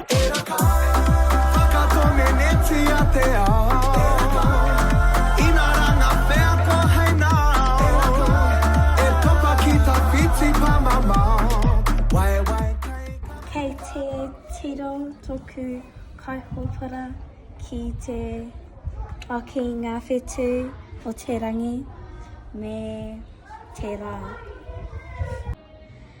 E raka, whakatonenetia te ao. E raka, ina ra nga wheako hei nao. E raka, e topa ki ta whiti pamamao. Wae wae kai ka. Kei te tiro toku kaihopara ki te whaki nga whetu o te rangi me te ra.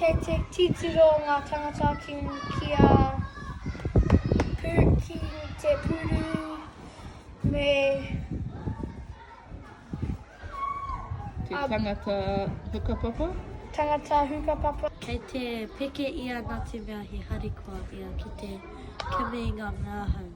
Kei te titiro ngā tangata ki kia pū ki te pūru me Te tangata hukapapa? Tangata hukapapa. Kei te peke ia nā te mea he harikoa ia ki te kimi i ngā mea hou.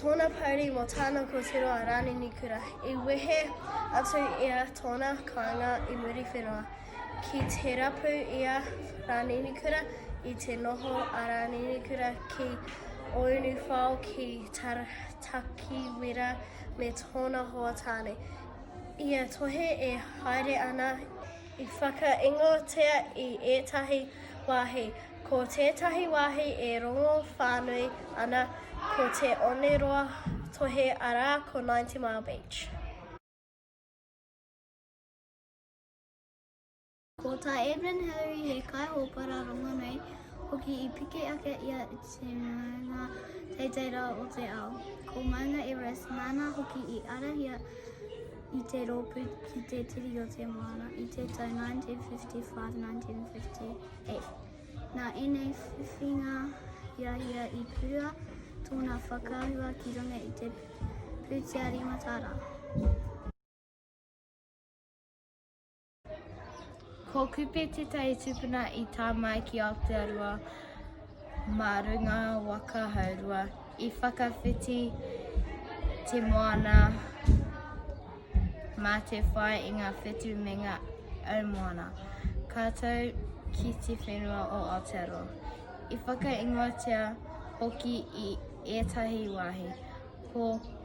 Tōna pouri mō tāna kōtiro a Rānini Kura i wehe atu i a tōna kāinga i Muriwhenua. Ki te rapu i a Rānini Kura i te noho a Rānini Kura ki Ōunuwhao ki Takiwera me tōna hoa tāne. Ia tohe e haere ana i. I whakaingoatia i ētahi wāhi, ko tētahi wāhi e rongo whānui ana ko Te Oneroa Tohe arā ko Ninety Mile Beach. Ko tā Edwin Hillary he kaihōpara rongonui hoki i piki ake ia i te maunga teitei rawa o te ao. Ko Maunga Everest nāna hoki i arahia I te rōpū ki te Tiriti o Te Moana i te tau 1955-1958. Nā ēnei whiwhinga ia ia i purua tōna whakaahua ki runga i te pūtea rīmatara. Ko Kupe tētahi tupuna i tā mai ki Aotearoa mā runga waka haurua. I whakawhiti te moana mā te whai i ngā whetu me ngā au moana. Ka tau ki te whenua o Aotearoa. I whakaingoatia hoki i ētahi wāhi, ko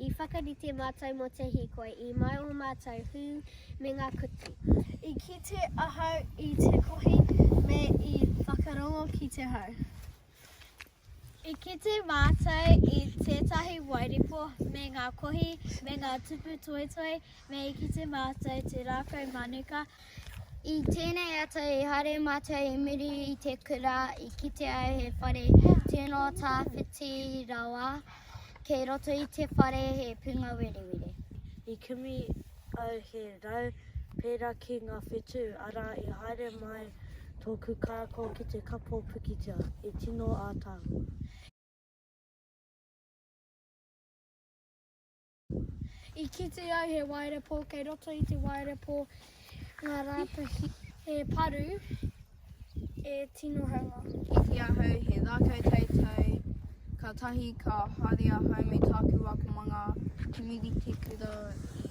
I whakarite mātou mō te hīkoi i mai ō mātou hū me ngā kutu. I kite ahau i te kohi me i whakarongo ki te hau. I kite mātou i tētahi wairepo me ngā kohi me ngā tupu toetoe me i kite mātou te rākau manuka I tēnei ata i haere mātou i muri i te kura i kite au he whare tino tāwhiti rawa kei roto i te whare he punga werewere. I kimi au he rau pērā ki ngā whetū, arā i haere mai tōku kākao ki te kapo pikitia, i tino ātaahua. I kite au he waerepo kei roto i te waerepo ngā rātahi he paru e tino hanga. Iti ahau he rākau teitei, kātahi ka haere ahau me tāku akomanga, Kimi Ritikura i.